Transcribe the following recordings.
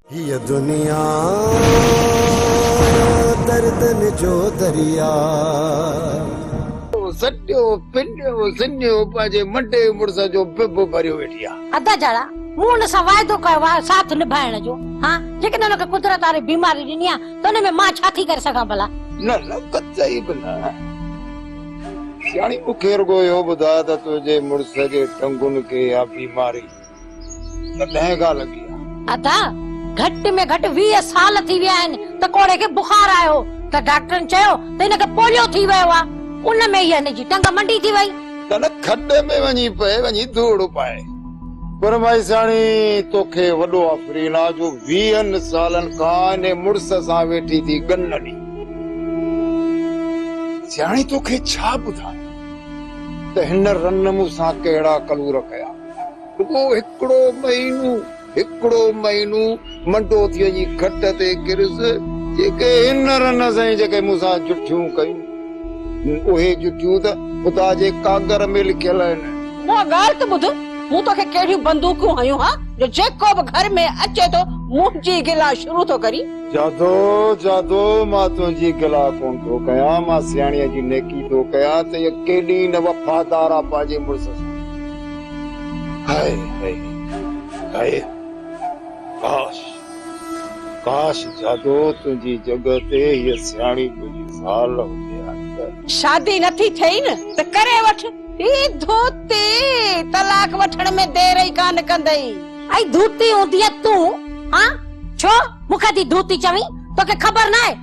هيء دنيا دردن جو درياء. سڏيو پنيو سنيو پنهنجي منڊي مڙس جو ڀڀ ڀريو ويٺي آ. ادا جاڙا مون ان سان واعدو ڪيو آ ساٿ نڀائڻ جو ها جيڪڏهن ان کي قدرت واري بيماري ڏني آ ته ان ۾ مان ڇا ٿي ڪري سگهان ڀلا. نه نه قطعي به نه سياڻي مون کي رڳو اهو ٻڌاء ته تنهنجي مڙس جي ٽنگن کي اها بيماري ته ڏهين گاهه لڳي آهي. ادا گهٽ ۾ گهٽ ويهه سال ٿي ويا آهن ته ڪوڙهي کي بخار آيو هو ته ڊاڪٽرن چيو ته هن کي پوليو ٿي ويو آهي ان ۾ ئي هن جي ٽنگ منڊي ٿي وئي. ڪنهن کڏي ۾ وڃي پئي وڃي ڌوڙ پائي. پر مائيساڻي توکي وڏو آفرين آ جو ويهن سالن کان انهي مڙس سان ويٺي ٿي ڳنڍي. سياڻي توکي ڇا ٻڌايان ته هن رن مون سان ڪهڙا ڪلور ڪيا. رڳو هڪڙو مهينو هڪڙو مهينو منڊوتيء جي کٽ تي ڪريس، جيڪي هن رنس ۽ جيڪي مون سان جٺيون ڪيون، اهي جٺيون ته خدا جي ڪاڳر ۾ لکيل آهن. اها ڳالهه ته ٻڌ، مون توکي ڪهڙيون بندوقون هنيون ها، جو جيڪو به گهر ۾ اچي ٿو، منهنجي گلا شروع ٿو ڪرين. جادو، جادو، مان تنهنجي گلا ڪونه ٿو ڪيان، مان سياڻيء جي نيڪي ٿو ڪيان ته اها ڪيڏي نه وفادار آهي پنهنجي مڙس سان. هائي هائي هائي ڪاش ڪاش جادو تنهنجي جڳھ تي هيء سياڻي ٻلي زال هجي ها ته. شادي نٿي ٿئي نه ته ڪري وٺ. هي ڌوتي طلاق وٺڻ ۾ دير ئي ڪانه ڪندئي. اي ڌوتي اونديء تون هان ڇو مون کي ٿي ڌوتي چوين توکي خبر ناهي.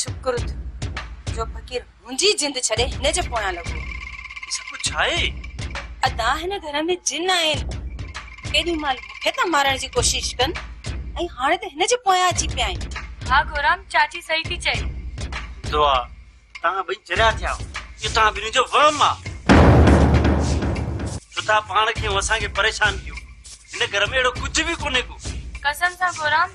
شڪر ٿيو جو فقير منهنجي جند ڇڏي هن جي پويان لڳو. هي سڀ ڇا آهي؟ ادا هن گهر ۾ جن آهن. ڪيڏي مهل مون کي ٿا مارڻ جي ڪوشش ڪن ۽ هاڻي ته هن جي پويان اچي پيا آهن. ها گورام چاچي صحيح ٿي چئي. دعا توهان ٻئي چريا ٿيا آهيو. اهو توهان ٻنهي جو وهم آهي. جو توهان پاڻ کي ۽ اسان کي پريشان ڪيو. هن گهر ۾ اهڙو ڪجهه به ڪونهي ڪو. قسم سان گورام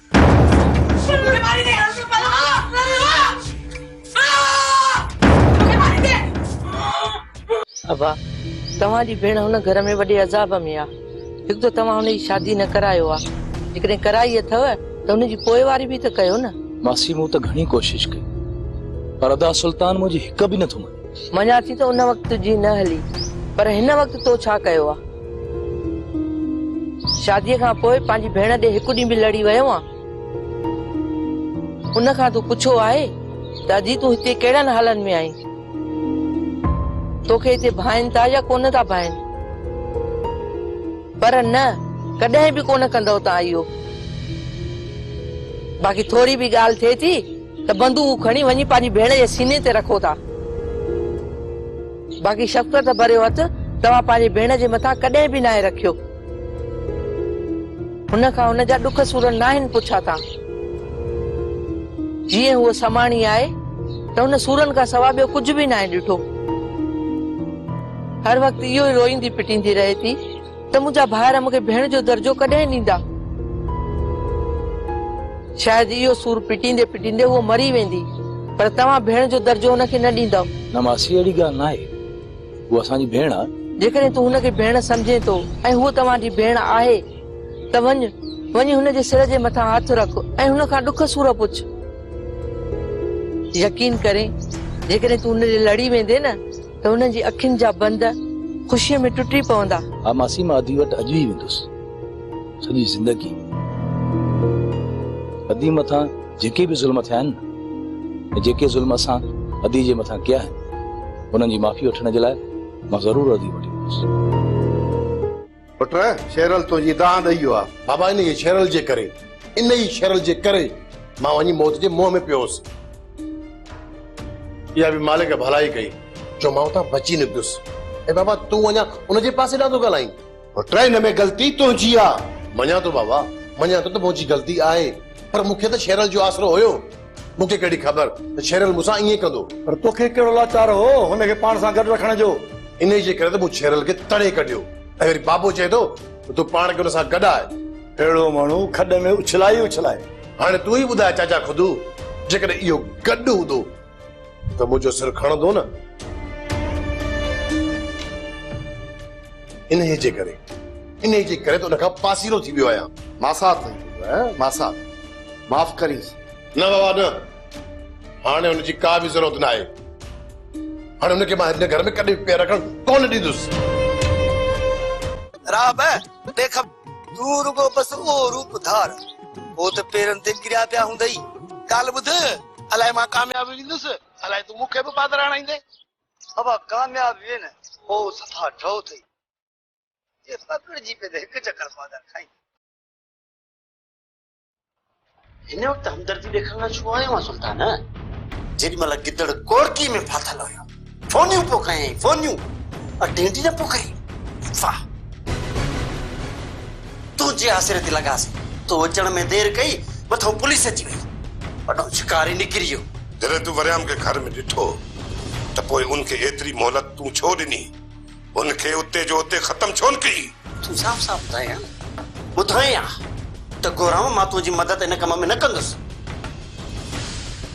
ابا، توهان جي ڀيڻ هن گهر ۾ وڏي عذاب ۾ آ. هڪ ته توهان هن جي شادي نه ڪرايو آ. جيڪڏهن ڪرائي اٿئو ته هن جي پوئواري به ته ڪيو نه. ماسي مون ته گهڻي ڪوشش ڪئي پر ادا سلطان منهنجي هڪ به نٿو مڃي. مڃان ٿي ته ان وقت تنهنجي نه هلي پر هن وقت تو ڇا ڪيو آ؟ شاديء کان پوء پنهنجي ڀيڻ ڏي هڪ ڏينهن به لڙي ويو آ؟ ان کان تون پڇو آهي ته اجي تون هتي ڪهڙن حالن ۾ آهين؟ توکي هتي ڀائين ٿا يا ڪونه ٿا ڀائين؟ پر نه ڪڏهن به ڪونه ڪندؤ تان اهو. باقي ٿوري به ڳالهه ٿئي ٿي ته بندوق کڻي وڃي پنهنجي ڀيڻ جي سيني تي رکو ٿا. باقي شفقت ڀريو هٿ توهان پنهنجي ڀيڻ جي مٿان ڪڏهن به ناهي رکيو. هن کان هن جا ڏک سور ناهن پڇا ٿا. جيئن هوء سماڻي آهي ته هن سورن کان سواء ٻيو ڪجهه به ناهي ڏٺو. هر وقت اهو ئي روئيندي پٽيندي رهي ٿي. ته منهنجا ڀائر مون کي ڀيڻ جو درجو ڪڏهن ڏيندا؟ شايد اهو سور پٽيندي پٽيندي هوء مري ويندي، پر توهان ڀيڻ جو درجو هن کي نه ڏيندؤ. نه ماسي اهڙي ڳالهه ناهي، هوء اسان جي ڀيڻ آهي. جيڪڏهن تون هن کي ڀيڻ سمجهين ٿو ۽ هوء توهان جي ڀيڻ آهي ته وڃ، وڃي هن جي سر جي مٿان هٿ رک ۽ هن کان ڏک سور پڇ. يقين ڪرين جيڪڏهن تون هن ڏي لڙي ويندين نه. ته هنن جي اکين جا بند خوشيء ۾ ٽٽي پوندا. ها ماسي مان ادي وٽ اڄ ئي ويندس. سڄي زندگي ادي مٿان جيڪي به ظلم ٿيا آهن نه ۽ جيڪي ظلم اسان ادي جي مٿان ڪيا آهن انهن جي معافي وٺڻ جي لاء مان ضرور ادي وٽ ايندس. پٽ شيرل تنهنجي دانهن ڏئي ويو آهي. بابا انهيء شيرل جي ڪري، انهيء شيرل جي ڪري مان وڃي موت جي منهن ۾ پيو هوس. اها به مالڪ ڀلائي ڪئي جو مان اتان بچي نڪتس. ۽ بابا تون اڃا ان جي پاسي ڏانهن ٿو ڳالهائين. پٽ هن ۾ غلطي تنهنجي آهي. مڃان ٿو بابا، مڃان ٿو ته منهنجي غلطي آهي، پر مون کي ته شيرل جو آسرو هيو. مون کي ڪهڙي خبر ته ڇيرل مون سان ائين ڪندو. پر توکي ڪهڙو لاچار هو هن کي پاڻ سان گڏ رکڻ جو؟ انهيء جي ڪري ته مون ڇيرل کي تڙي ڪڍيو ۽ وري بابو چئي ٿو ته تون پاڻ کي ان سان گڏ آء. اهڙو ماڻهو کڏ ۾ اڇلائي ئي اڇلائي. هاڻي تون ئي ٻڌاء چاچا خدو جيڪڏهن اهو گڏ هوندو. ته منهنجو سر کڻندو نه. انهيء جي ڪري، انهيء جي ڪري ته ان کان پاسيرو ٿي ويو آهيان. ماسات، ماسات، معاف ڪريس. نه بابا نه. هاڻي ان جي ڪا به ضرورت ناهي. هاڻي ان کي مان هن گهر ۾ ڪڏهن به پير رکڻ ڪونه ڏيندس. راه به نه کپ. تون رڳو بس اهو روپ ڌار. هو ته پيرن تي ڪريا پيا هوندئي. ڳالهه ٻڌ. الائي مان ڪامياب ويندس، الائي تون مون کي به پادر آڻائيندين. بابا ڪامياب وين، پوء صفا ڊو ٿئي. جي پڪڙجي پئي ته هڪ چڪر پادر کائيندين. هن وقت همدردي ڏيکارڻ لاء ڇو آيو آهين سلطان؟ جيڏي مهل گدڙ ڪورڪي ۾ ڦاٿل هيو. فونيون پيو ڪيائين، فونيون! ۽ ڊينڊي نه پيو ڪرين. واهه! تنهنجي آسري تي لڳاسي. تون اچڻ ۾ دير ڪئي، مٿو پوليس اچي وئي. وڏو شڪاري نڪري ويو. جڏهن تون وريام کي گهر ۾ ڏٺو ته پوء ان کي ايتري مهلت تون ڇو ڏني؟ ان کي اتي جو اتي ختم ڇو نه ڪيئي؟ تون صاف صاف ٻڌائين ها نه؟ ٻڌائين ها ته گورام مان تنهنجي مدد ان ڪم ۾ نه ڪندس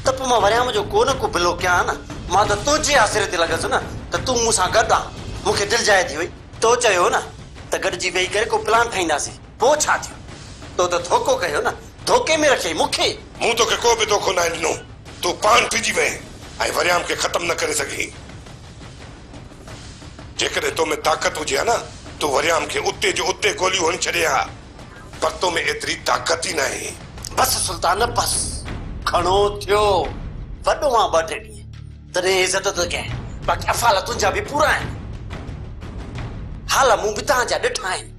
ته پوء مان وريام جو ڪو نه ڪو بلو ڪيان ها نه؟ مان ته تنهنجي آسري تي لڳس نه ته تون مون سان گڏ آن. مون کي دل جاهي ٿي وئي. تو چيو هو نه ته گڏجي ويهي ڪري ڪو پلان ٺاهينداسين. پوء ڇا ٿيو؟ تو ته ڌوڪو ڪيو نه. ڌوڪي ۾ رکيئي مون کي. مون توکي ڪو به ڌوڪو ناهي ڏنو. تون پاڻ ڦرجي وئين ۽ وريام کي ختم نه ڪري سگهين. جيڪڏهن تو ۾ طاقت هجي ها نه، تون وريام کي اتي جو اتي گوليون هڻي ڇڏين ها، پر تو ۾ ايتري طاقت ئي ناهي. بس سلطان بس، گهڻو ٿيو، وڏو مان ٻه ٽي ڏينهن، تڏهن عزت ٿو ڪيانء، باقي افعال تنهنجا به پورا آهن، حال مون به تهان جا ڏٺا آهن.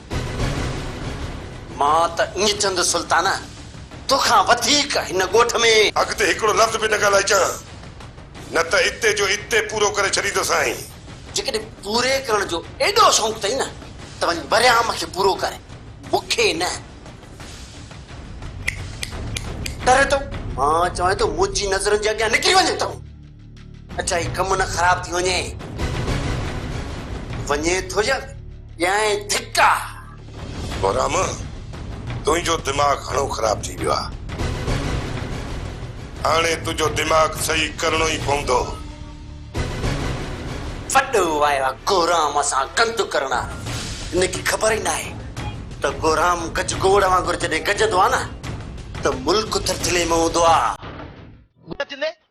مان ته ائين چوندس سلطانه تو کان وڌيڪ هن ڳوٺ ۾. اڳتي هڪڙو لفظ به نه ڳالهائي چان نه ته اتي جو اتي پورو ڪري ڇڏيندوسانء. جيڪڏهن پوري ڪرڻ جو ايڏو شوق اٿئي نه ته وڃ وريام کي پورو ڪر مون کي نه ٽري ٿو مان چوان ٿو منهنجي نظرن جي اڳيان نڪري وڃ تون. اچا هي ڪم نه خراب ٿي وڃي. وڃي ٿو يا ڏيانء ڌڪا. بهرام تنهنجو دماغ گهڻو خراب ٿي ويو آهي. هاڻي تنهنجو دماغ صحيح ڪرڻو ئي پوندو. وڏو آيو آهي گهرام سان گند ڪرڻ. هن کي خبر ئي ناهي ته گهرام گج گوڙ وانگر جڏهن گجندو آهي نه ته ملڪ ٿرٿلي ۾ هوندو آهي. گجندي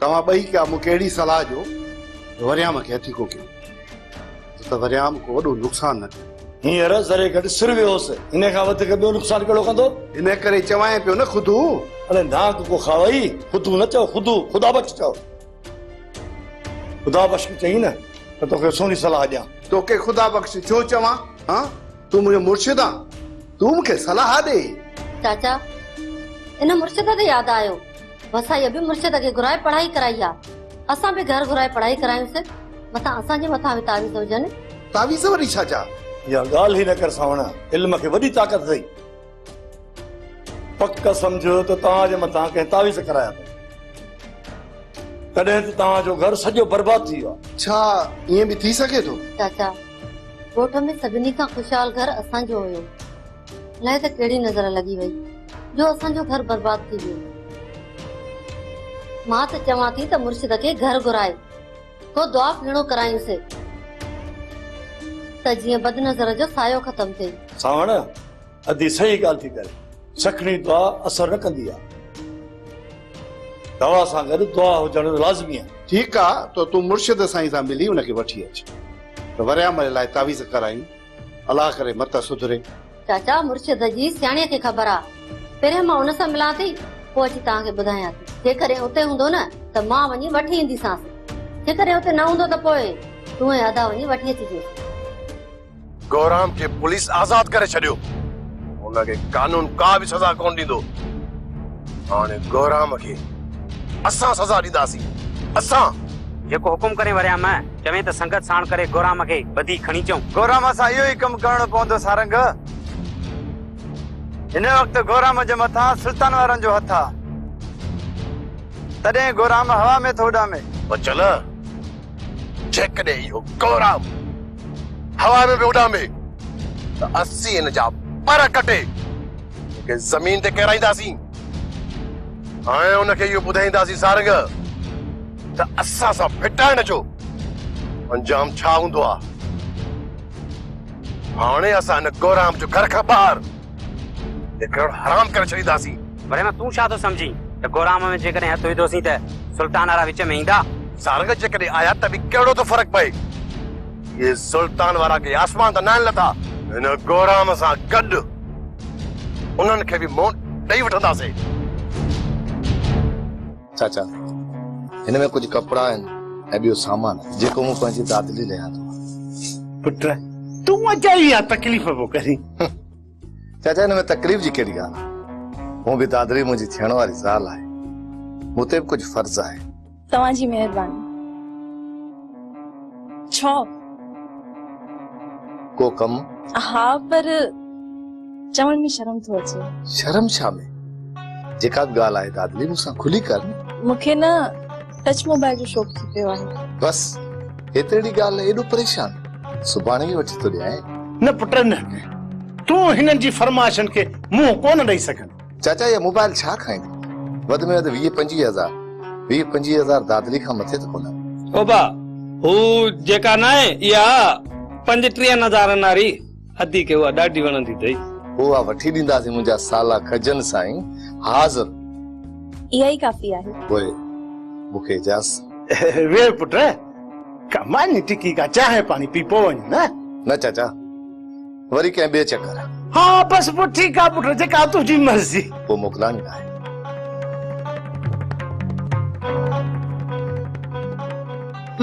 توهان ٻئي ڪا مون کي اهڙي صلاح ڏيو ته وريام کي هٿي ڪو ڪيو ڇو ته وريام ڪو وڏو نقصان نه ڪيو. هينئر ذري گهٽ سر ويو هوس، ان کان وڌيڪ ٻيو نقصان ڪهڙو ڪندو؟ ان ڪري چوانء پيو نه خدو! اڙي نانگ ڪو کاوئي، خدو نه چئو، خدو، خدا بخش چئو. خدا بخش کي چئين نه ته توکي سهڻي صلاح ڏيان. توکي خدا بخش ڇو چوان هان؟ تون منهنجو مرشد آن، تون مون کي صلاح ڏي. چاچا، ان مرشد تي ياد آيو. وسائيء به مرشد کي گهرائي پڙهائي ڪرائي آ. اسان به گهر گهرائي پڙهائي ڪرايونس. متان اسان جي مٿان به تعويذ هجن. تعويذ وري ڇا جا؟ اها ڳالهه ئي نه ڪر سانوڻا. علم کي وڏي طاقت اٿئي. پڪ سمجهه ته توهان جي مٿان ڪنهن تعويذ ڪرايا اٿن. تڏهن ته توهان جو گهر سڄو برباد ٿي ويو آ. ڇا ائين به ٿي سگهي ٿو؟ چاچا، ڳوٺ ۾ سڀني کان خوشحال گهر اسان جو هيو. الائي ته ڪهڙي نظر لڳي وئي جو اسان جو گهر برباد ٿي ويو. مان ته چوان ٿي ته مرشد کي گهر گهرائي ڪو دعا ڦيڻو ڪرائين سي ته جيئن بد نظر جو سايو ختم ٿئي. سانوڻ ادي صحيح ڳالهه ٿي ڪري. سکڻي دعا اثر نه ڪندي آ. دوا سان گڏ دعا هجڻ لازمي آ. ٺيڪ آ ته تون مرشد سائين سان ملي ان کي وٺي اچ ته وريامل لاء تعويذ ڪرايون. الله ڪري مت سڌري. چاچا مرشد جي سياڻيء کي خبر آ. پهريان مان ان سان ملان ٿي، پوء اچي توهان کي ٻڌايان ٿي. جيڪڏهن اتي هوندو نه ته مان وڃي وٺي اينديسانس. جيڪڏهن اتي نه هوندو ته پوء تون ۽ ادا وڃي وٺي اچجو. گهرام کي پوليس آزاد ڪري ڇڏيو. هن کي قانون ڪا به سزا ڪونه ڏيندو. هاڻي گهرام کي اسان سزا ڏينداسين. اسان! جيڪو حڪم ڪرين وريان مئه. چوين ته سنگت ساڻ ڪري گورام کي ٻڌي کڻي چئون. گورام سان اهو ئي ڪم ڪرڻو پوندو سارنگ. هن وقت گورام جي مٿان سلطان وارن جو هٿ آ. تڏهن گورام هوا ۾ ٿو اڏامي. بچل، جيڪڏهن اهو گورام هوا ۾ به اڏامي ته اسين هن جا پر ڪٽي هن کي زمين تي ڪيرائينداسين ۽ هن کي اهو ٻڌائينداسين سارنگ! ته اسان سان ڦٽائڻ جو انجام ڇا هوندو آ؟ هاڻي اسان هن ڪورام جو گهر کان ٻاهر نڪرڻ حرام ڪري ڇڏينداسين. برهمه تون ڇا ٿو سمجهين ته ڪورام ۾ جيڪڏهن هٿ وڌوسين ته سلطان وارا وچ ۾ ايندا؟ سارنگ جيڪڏهن آيا ته به ڪهڙو ٿو فرق پئي؟ اهي سلطان وارا ڪي آسمان تان ناهن لٿا. هن ڪورام سان گڏ انهن کي به منهن ڏئي وٺنداسين. چاچا، هن ۾ ڪجهه ڪپڙا آهن ۽ ٻيو سامان جيڪو مون پنهنجي دادي لئي ليان ٿو. پٽ، تون اجائي اها تڪليف پيو ڪرين. چاچا، هن ۾ تڪليف جي ڪهڙي ڳالهه آهي. هونء به دادڙي منهنجي ٿيڻ واري زال آهي. مون تي به ڪجهه فرض آهي. توهان جي مهرباني. ڇو؟ ڪو ڪم؟ ها پر چوڻ ۾ شرم ٿو اچي. شرم ڇا ۾؟ جيڪا به ڳالهه آهي دادلي مون سان کلي ڪر نه. مون کي نه ٽچ موبائل جو شوق ٿي پيو آهي. بس هيترڙي ڳالهه لاء ايڏو پريشان؟ سڀاڻي ئي وٺي ٿو ڏيانء. نه پٽ نه. تون هنن جي فرمائشن کي منهن ڪونه ڏئي سگهندين. چاچا اها موبائل ڇا کائيندي؟ وڌ ۾ وڌ ويهه پنجويهه هزار. ويهه پنجويهه هزار دادلي کان مٿي ته ڪونه. اوبا هو جيڪا ناهي اها پنجٽيهن هزارن واري ادي کي اها ڏاڍي وڻندي اٿئي. هو اها وٺي ڏينداسين منهنجا سالا کجن سائين حاضر. اها ئي ڪافي آهي. پوء مون کي اجازت. ويهه پٽ ڪا ماني ٽڪي ڪا چانهه پاڻي پي پوء وڃ نه. نه چاچا. وري ڪنهن ٻئي چڪر. ها بس پوء ٺيڪ آ پٽ جيڪا تنهنجي مرضي. پوء موڪلان ئي ناهي.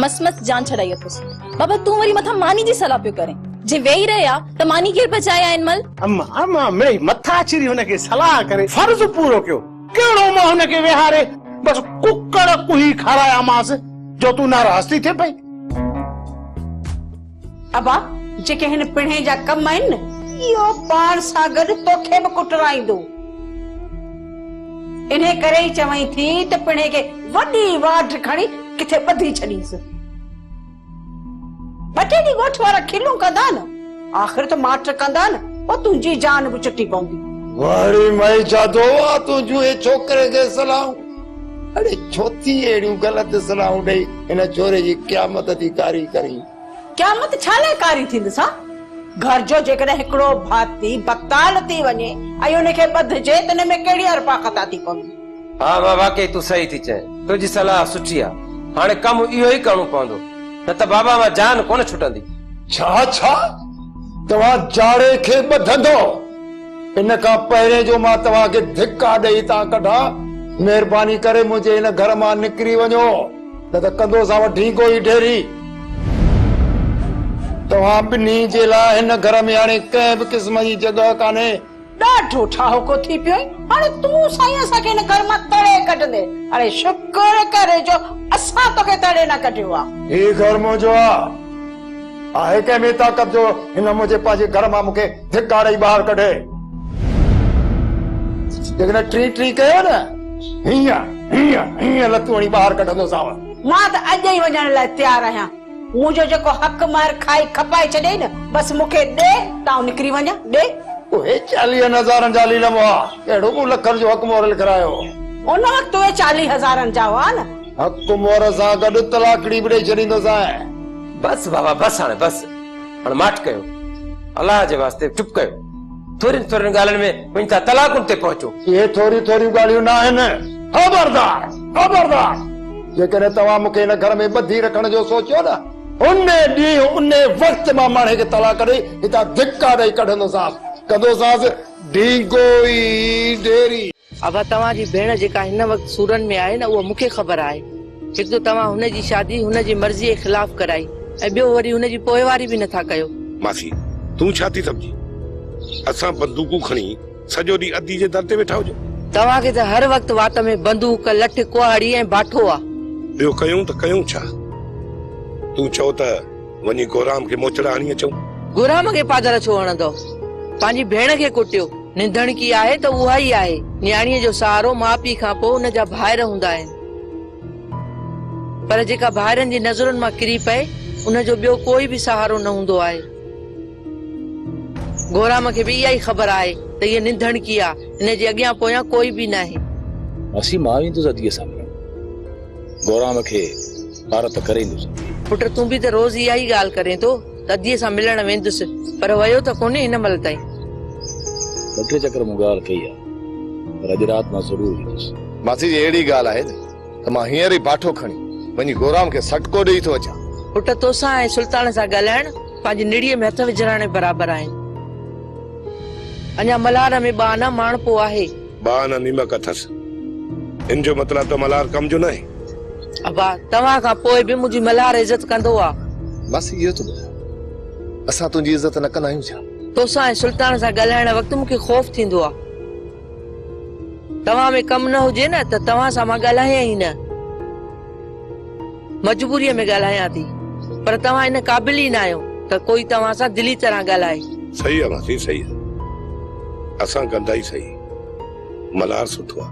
مس مس جان ڇڏائي اٿس. بابا تون وري مٿان ماني جي صلاح پيو ڪرين. جي ويهي رهي آ ته ماني ڪير پچائي آ ان مهل. اما اما مڙئي مٿا چري هن کي صلاح ڪري فرض پورو ڪيو. ڪهڙو مان هن کي ويهاري بس ڪڪڙ ڪوهي کارايامانس جو تون ناراض ٿي ٿئين پئي. ابا جيڪي هن پڻهين جا ڪم آهن نه اهو پاڻ سان گڏ توکي به ڪٽرائيندو. انهي ڪري ئي چوئين ٿي ته پڻهين کي وڏي واڍ کڻي ڪٿي ٻڌي ڇڏيس. ٻه ٽي ڏينهن ڳوٺ وارا کلون ڪندا نه آخر ته ماٺ ڪندا نه پوء تنهنجي جان به چٽي پوندي. واري مئي جادو آ تنهنجون اي ڇوڪري کي صلاحون. اڙي ڇو ٿي اهڙيون غلط صلاحون ڏئي هن ڇوري جي قيامت ٿي ڪاري ڪرين. قيامت ڇا لاء ڪاري ٿيندس ها؟ گهر جو جيڪڏهن هڪڙو ڀاتي بڪتال ٿي وڃي ۽ ان کي ٻڌجي ته ان ۾ ڪهڙي ارپا خطا ٿي پوي. ها ماء واقعي تون صحيح ٿي چئين تنهنجي صلاح سٺي آ هاڻي ڪم اهو ئي ڪرڻو پوندو نه ته بابا مان جان ڪونه ڇٽندي. ڇا ڇا توهان جاڙي کي ٻڌندو. ان کان پهرين جو مان توهان کي ڌڪا ڏئي هتان ڪڍان، مهرباني ڪري منهنجي ان گهر مان نڪري وڃو، نه ته ڪندوسان وڍينگو ئي ڍيري. توهان ٻنهي جي لاء هن گهر ۾ هاڻي ڪنهن به قسم جي جڳهه ڪانهي. ڏاڍو ٺاهوڪو ٿي پيو آهين، هاڻي تون سائين اسان کي هن گهر مان تڙي ڪڍندين، هاڻي شڪر ڪر جو اسان توکي تڙي نه ڪڍيو آهي. هي گهر منهنجو آهي، آهي ڪنهن ۾ طاقت جو هن منهنجي پنهنجي گهر مان مون کي ڌڪا ڏئي ٻاهر ڪڍي جيڪڏهن ٽري ٽري ڪيو نه هيئن هيئن هيئن لتون هڻي ٻاهر ڪڍندوسانو. مان ته اڄ ئي وڃڻ لاء تيار آهيان. منهنجو جيڪو حق مهر کائي کپائي ڇڏيئي نه بس مون کي ڏي ته آئون نڪري وڃان. ڏي. اهي چاليهن هزارن جا علي لمحا ڪهڙو مون لکن جو حق مهر لکرايو هو. ان وقت اهي چاليهه هزارن جا هئا نه. حق مهر سان گڏ طلاقڙي به ڏئي ڇڏيندوسانء. بس بابا بس هاڻي بس. هاڻ ماٺ ڪيو، الله جي واسطي چپ ڪيو. ٿورين ٿورين ڳالهين ۾ وڃي ٿا طلاقن تي پهچو. اهي ٿوريون ٿوريون ڳالهيون ناهن. خبردار! خبردار! جيڪڏهن توهان مون کي هن گهر ۾ ٻڌي رکڻ جو سوچيو نه، انهي ڏينهن، انهي وقت مان ماڻهي کي طلاق ڏئي هتان ڌڪا ڏئي ڪڍندوسانس، ڪندوسانس ڍينگوئي ڍيري. ابا توهان جي ڀيڻ جيڪا هن وقت سورن ۾ آهي نه اهو مون کي خبر آهي. هڪ ته توهان هن جي شادي هن جي مرضيء خلاف ڪرائي ۽ ٻيو وري هن جي پوئواري به نٿا ڪيو. ماسي تون ڇا ٿي سمجهين اسان بندوقون کڻي سڄو ڏينهن ادي جي در تي ويٺا هجون. توهان کي ته هر وقت وات ۾ بندوق، لٺ، ڪهاڙي ۽ باٺو آ. ٻيو ڪيون ته ڪيون ڇا؟ تون چئو ته. وڃي گورام کي موچڙا هڻي اچون. گورام کي پادر ڇو هڻندؤ؟ پنهنجي ڀيڻ کي ڪٽيو. ننڌڻڪي آهي ته اها ئي آهي. نياڻيء جو سهارو ماء پيء کان پوء ان جا ڀائر هوندا آهن. پر جيڪا ڀائرن جي نظرن مان ڪري پئي، ان جو ٻيو ڪوئي به سهارو نه هوندو آهي. گورام کي به اها ئي خبر آهي ته هيء ننڌڻڪي آ، هن جي اڳيان پويان ڪوئي به ناهي. ماسي مان ويندس اديء سان ملڻ. گورام کي. پارت ته ڪري ئي نه سگهي. پٽ تون به ته روز اها ئي ڳالهه ڪرين ٿو ته اديء سان ملڻ ويندس پر ويو ته ڪونهين هن مهل تائين. ٻه ٽي چڪر مون ڳالهه ڪئي آهي پر اڄ رات مان ضرور ويندس. ماسي جي اهڙي ڳالهه آهي ته مان هينئر ئي باٺو کڻي وڃي گورام کي سٽڪو ڏيئي ٿو اچان. پٽ توسان ۽ سلطان سان ڳالهائڻ پنهنجي نڙيء ۾ هٿ وجهراڻي برابر آهن. اڃا ملهار ۾ ٻانهن ماڻهپو آهي. با نه نيمڪ اٿس. ان جو مطلع ته ملهار ڪم جو ناهي. ابا توهان کان پوء به منهنجي ملهار عزت ڪندو آ. ماسي اهو ٿو ٻڌاء اسان تنهنجي عزت نه ڪندا آهيون ڇا؟ توسان ۽ سلطان سان ڳالهائڻ وقت مون کي خوف ٿيندو آ. توهان ۾ ڪم نه هجي نه ته توهان سان مان ڳالهايان ئي نه. مجبوريء ۾ ڳالهايان ٿي پر توهان ان قابل ئي نه آهيو ته ڪوئي توهان سان دلي طرح ڳالهائي. صحيح آ ماسي صحيح آ اسان ڪندا ئي صحيح ملهار سٺو آ.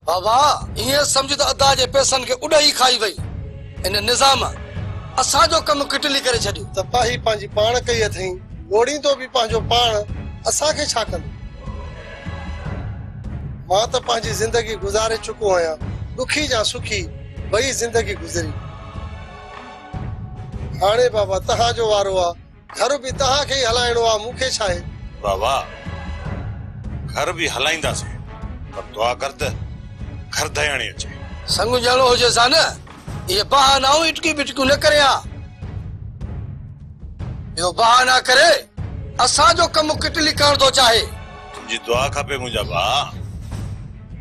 بابا ائين سمجهه ته ادا جي پئسن کي اڏ ئي کائي وئي ان نظام اسان جو ڪم ڪٽلي ڪري ڇڏيو. تباهي پنهنجي پاڻ ڪئي اٿئين لوڙيندو به پنهنجو پاڻ اسان کي ڇا ڪندو. مان ته پنهنجي زندگي گذاري چڪو آهيان، ڏکي جا سکي ٻئي زندگي گذري. هاڻي بابا توهان جو وارو آ، گهر به توهان کي ئي هلائڻو آ، مون کي ڇا آهي؟ بابا گهر به هلائينداسين، پر دعا ڪر ته گهر دياڻي اچي. سڱجهڙو هجيس ها نه. اهي بهانائون اٽڪي بٽڪيون نه ڪرين ها. اهو بهانا ڪري اسان جو ڪم ڪٽلي ڪرڻ ٿو چاهي. تنهنجي دعا کپي منهنجا ڀاء.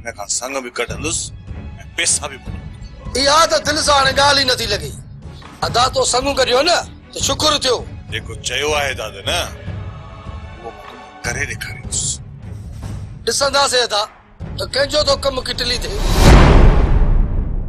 هن کان سڱ به ڪڍندس ۽ پيسا به موڪليندس. اها ته دل سان هاڻي ڳالهه ئي نٿي لڳي. ادا تو سڱ ڪڍيو نه ته شڪر ٿيو. جيڪو چيو آهي داد نه اهو مان توکي ڪري ڏيکاريندس. ڏسنداسين ادا ته ڪنهن جو ٿو ڪم ڪٽلي ٿئي.